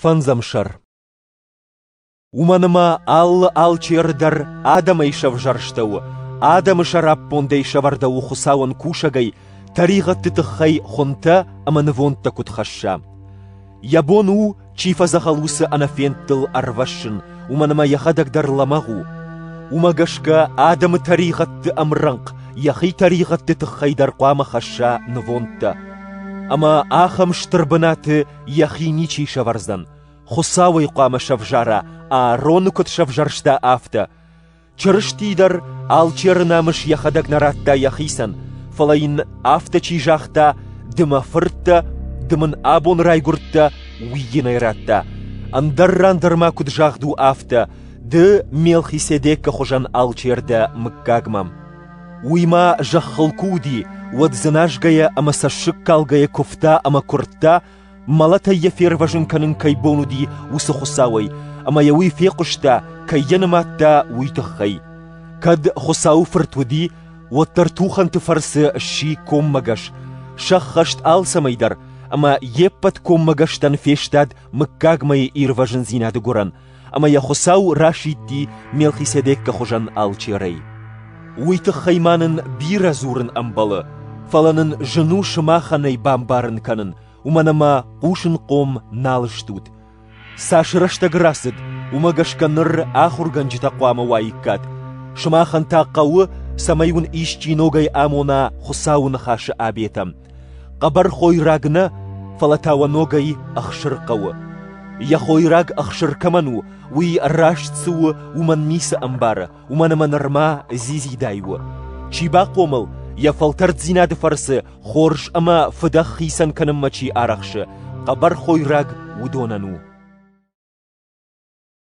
Фӕндзӕмсӕр. Уымӕн ӕмӕ алы алчеры дӕр адӕмӕй сӕвзӕрстӕуы, адӕмы сӕраппондӕй сӕвӕрдӕуы Хуыцауӕн кусӕгӕй, тӕригъӕдты тыххӕй хуынтӕ ӕмӕ нывондтӕ куыд хӕсса. Йӕ бон у, чи фӕдзӕхӕл, уыцы ӕнӕфендтыл ӕрвӕссын, уымӕн ӕмӕ йӕхӕдӕг дӕр лӕмӕгъ у. Уымӕ гӕсгӕ адӕмы тӕригъӕдты ӕмрӕнхъ йӕхи тӕригъӕдты тыххӕй дӕр хъуамӕ хӕсса нывондтӕ. Ӕмӕ ахӕм стыр бынаты йӕхи ничи сӕвӕрдзӕн, Хуыцау ӕй хъуамӕ сӕвзара, Аароны куыд сӕвзӕрста, афтӕ. Чырысти дӕр алчеры намыс йӕхӕдӕг нӕ радта йӕхицӕн, фӕлӕ йын афтӕ чи загъта, ды мӕ фырт дӕ, ды мын абон райгуырдтӕ, уый йын ӕй радта. Ӕндӕр ран дӕр ма куыд загъд у, афтӕ: Ды Мелхиседекы хуызӕн алчер дӕ мыггагмӕ. Уый ма зӕххыл куы уыди, уӕд дзыназгӕйӕ ӕмӕ цӕссыгкалгӕйӕ куывта ӕмӕ куырдта, мӕлӕтӕй йӕ фервӕзын кӕнын кӕй бон уыди, уыцы Хуыцауӕй, ӕмӕ йӕ уый фехъуыста, кӕй йӕ нымадта, уый тыххӕй. Кӕд Хуыцауы Фырт уыди, уӕддӕр тухӕнты фӕрцы сси коммӕгӕс, сӕххӕст алцӕмӕй дӕр, ӕмӕ йе ппӕт коммӕгӕстӕн фестад мыггагмӕйы ирвӕзындзинады гуырӕн, ӕма йӕ Хуцау расидти Мелхиседеккы хуызӕн алчерӕй. Уый тыххӕй ма нын бирӕ дзурын ӕмбӕлы, фӕлӕ нын зын у сымахӕнӕй бамбарын кӕнын, уымӕн ӕмӕ хъусынхъом нал стут. Цас рӕстӕг рацыд, уымӕ гӕсгӕ ныр ахуыргӕнджытӕ хъуамӕ уаиккат. Сымахӕн та хъӕуы, цӕмӕй уын исчи ногӕй амона Хуыцауы ныхасы обетӕм, Хъӕбӕр хойраг нӕ, фӕлӕ та уӕ ногӕй ӕхсыр хъӕуы. Йӕ хойраг ӕхсыр кӕмӕн у, уый раст цы у, уымӕн ницы ӕмбары, уымӕн ӕмӕ нырма дзидзидай у. Чи бахъомыл, йӕ фӕлтӕрддзинады фӕрцы хорз ӕмӕ фыдӕх хицӕн кӕнынмӕ чи арӕхсы, хъӕбӕр хойраг уыдонӕн у.